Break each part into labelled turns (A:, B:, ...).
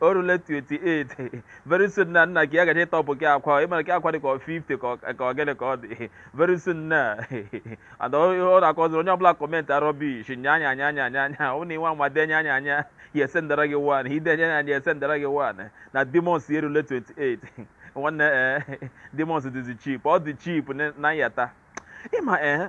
A: o rule 28 very soon na nna gị ya gaje ịtọpụ gị akwa ịmara gị akwa dị ka ọ 50 ka ọ- ka ọ gịnị ka ọ dị very soon na and ọ ọ na-akọziri onye ọbụla commentịa rubbish nya anya anya anya anya anya ọ na i nwe anwa denye anya anya ya esendara gị one i denye anya anya ya esendara gị one na demons ya erule 28 nwanne ee demons dịzi cheap ọ dị cheap na nyata ịma ee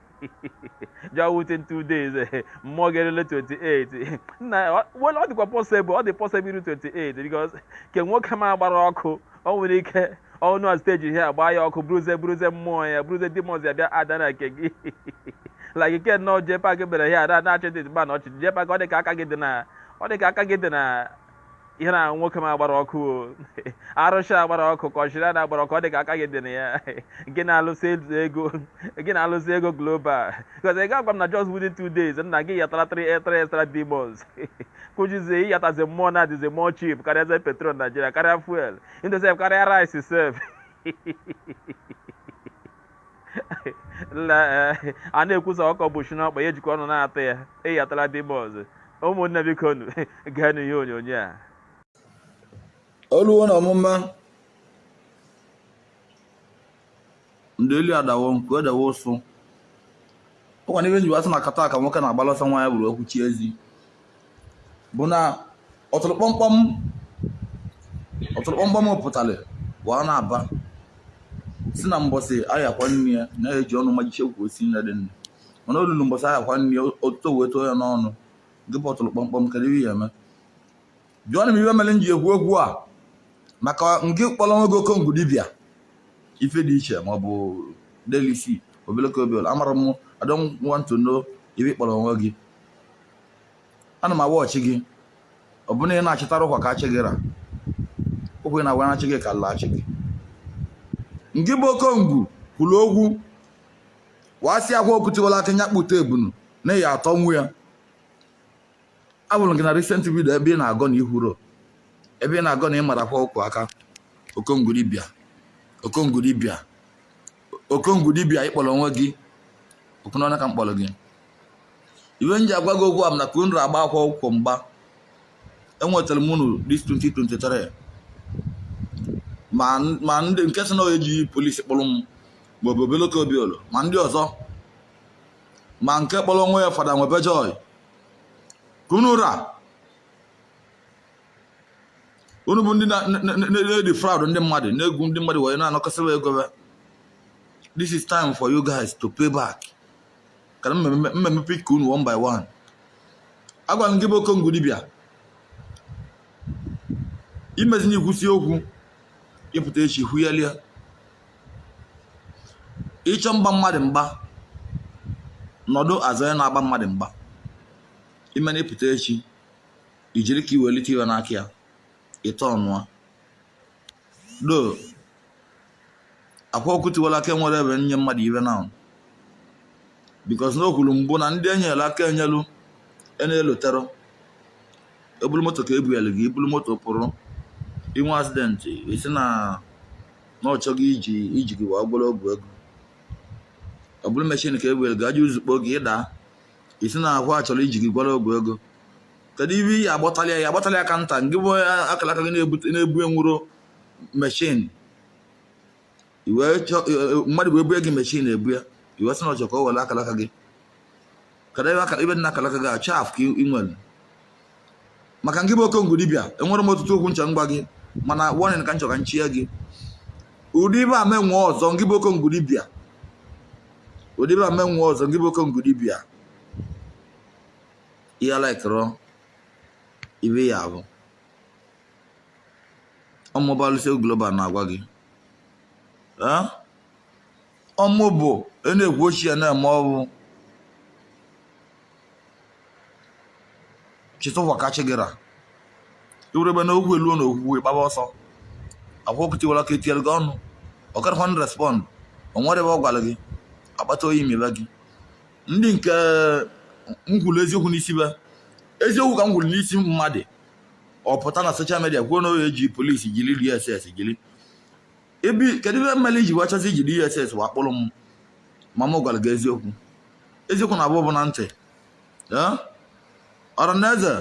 A: ja within two days eh, mmụọ ga-erule 28 nna ọ- well, ọ dịkwa possible ọ dị possible iru 28 because ke nwoke m agbara ọkụ ọ nwere ike ọnụ a stage ihe a gbaa ya ọkụ buruze buruze mmụọ ya buruze demons ya bịa ada na nke gị like ike nnọọ jee pak bere ya ada na-achị dị mba na ọchị jee pak ọ dị ka aka gị dị na ọ dị ka aka gị dị na ihe na nwoke m agbara ọkụ o arụsị agbara ọkụ ka ọchịrị ada agbara ọkụ ọ dị ka aka gị dị na ya gị na-alụsị ego gị na-alụsị ego global because ị ga-agwa m na just within two days nna gị yatara three three extra demons kụjizie ịyatazi mmụọ na-adịzi mmụọ cheap karịazi petrol Nigeria karịa fuel sef karịa rice sef Eh, a na-ekwu sị ọkụkọ bọsịa n'ọkpa ya ejikwa ọnụ na-atụ ya eyi atala dị ime ọzọ ụmụnne bikonụ gaa n'ihe onyonyo a o luwo na ọmụma ndị elu adawo nke edawo ụsụ ọ kwa n'ife e ji wee asị na kata ka nwoke na-agbala ọsọ nwaanyị buru okwu chie ezi bụ na ọtụrụ kpọmkpọm ọtụrụ kpọmkpọm pụtara wee na-aba sị na mbọsị a ya-akwa nne ya na ya-eji ọnụ majiche ukwu osisi nne dị nne mana o lulu mbọsị a ya-akwa nne ya otuto wee too ya n'ọnụ gị bụ ọtụrụ kpọmkpọm kedu ihe ị ya-eme jụọnụ m ife mere m ji ekwu okwu a maka ngị kpọrọ onwe gị okongwu dibia ife dị iche maọbụ delisi obeleke obel amarọ m I don't want to know ife ị kpọrọ onwe gị ana m awa ọchị gị ọ bụrụ na ị na-achịtara ụkwa ka achị gị ra ụkwụ ị na-agwa na-achị gị ka ala achị gị ngị bụ okongwu kwuru okwu wee sị Akwa Ọkụkọ Tiwala Akị nya kpụta ebunu na ya atọnwu ya afụrụ m gị na recent video ebe ị na-agọ na ihuro ebe ị na-agọ na ị mara Akwa Ọkụkọ aka okongwu dibia okongwu dibia okongwu dibia ị kpọrọ onwe gị okwu n'ọnụ ka m kpọrọ gị ife m ji agwa gị okwu a m na ka unu agba Akwa Ọkụkọ mgba enwetara m unu this 2023 ma n- ma ndị nke sị na ya eji police kpụrụ m ma ọ bụ obeloko obiolo ma ndị ọzọ ma nke kpọrọ onwe ya fada nwebe joy ka unu ra unu bụ ndị na-edefraud ndị mmadụ na-egwu ndị mmadụ wee na-anakọsịwa ego ha this is time for you guys to pay back ka na m ma-eme pick unu one by one agwara m gị bụ okongo dibịa imezini ikwusi okwu ịpụta echi ikwugharịa ịchọ mgba mmadụ mgba nọdụ azụ onye na-agba mmadụ mgba imeni ịpụta echi ijiri ka iwelite ihe n'aka ya ịtọ ọnụa do akwa ọkụkọ tiwara akị enwere ebe nye mmadụ ihe na because na o kwuru mbụ na ndị enyela aka enyelu na-elotero ọ bụlụ moto ka ebuyelu gị ibulu moto pụrụ inwee accident ịsị na na ọ chọ gị iji iji gị wee gwọrọ ọgwụ ego ọ bụrụ machine ka ebuyelu gị aja uzu kpo gị ịda ịsị na aha a chọrọ iji gị gwọrọ ọgwụ ego kedu ive iyi agbatala ya agbatala ya ka nta ngị bụ akara aka gị na-ebu enwerọ machine mmadụ wee bue gị machine ebu ya ị wee sị na ọ chọ ka o were akalaka gị kedu ive akara ive dị na akalaka gị achọ afụ ka ị nwere maka ngị bụ okongo dibịa enwere m ọtụtụ okwu nchọ ngwa gị mana warning ka nchọ ka nchie gị ụdị ive a mee nwe ọzọ ngị bụ okongo dibịa ụdị ive a mee nwe ọzọ ngị bụ okongo dibịa i likerọ ive ya bụ ọmụbalụsị global na-agwa gị ọmụ bụ na-ekwu ochie na-eme ọ bụ chitụwa kachigara iwurebe na okwu eluo na okwukwe gbaba ọsọ akwa ọkụkọ tiwara akị etinyere gị ọnụ ọkarakwa n respond o nwere ebe ọ gwara gị akpata oyi mebe gị ndị nke m kwuru eziokwu n'isi be eziokwu ka m kwuru n'isi mmadụ ọ pụta na social media kwuo na ọ ya-eji police jiri dss jiri ive kedu ive meli i ji wachasị iji dss wa akpụrụ m ma m gwara gị eziokwu eziokwu na-afụ ụfụ na ntị ọranaeze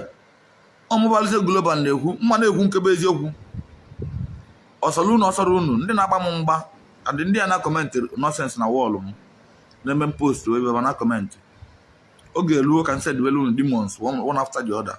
A: ọmụbalise global na-ekwu m ma na-ekwu nke bụ eziokwu ọsọrọ unu ọsọrọ unu ndị na-agba m mgba adị ndị a na comment nonsense na wall m na-eme m post ebe na comment oge eruo ka m sendibere unu demons one after the other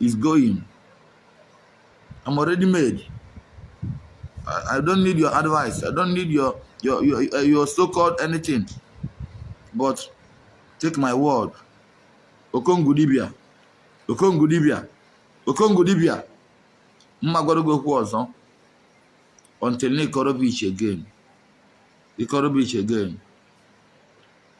A: is going. I'm already made. I, I don't need your advice. I don't need your your your, uh, your so-called anything. But take my word. Okongudibia. Okongudibia. Okongudibia. Mma gwara gị okwu ọzọ. Until na ịkọrọ beach again. Ịkọrọ beach again.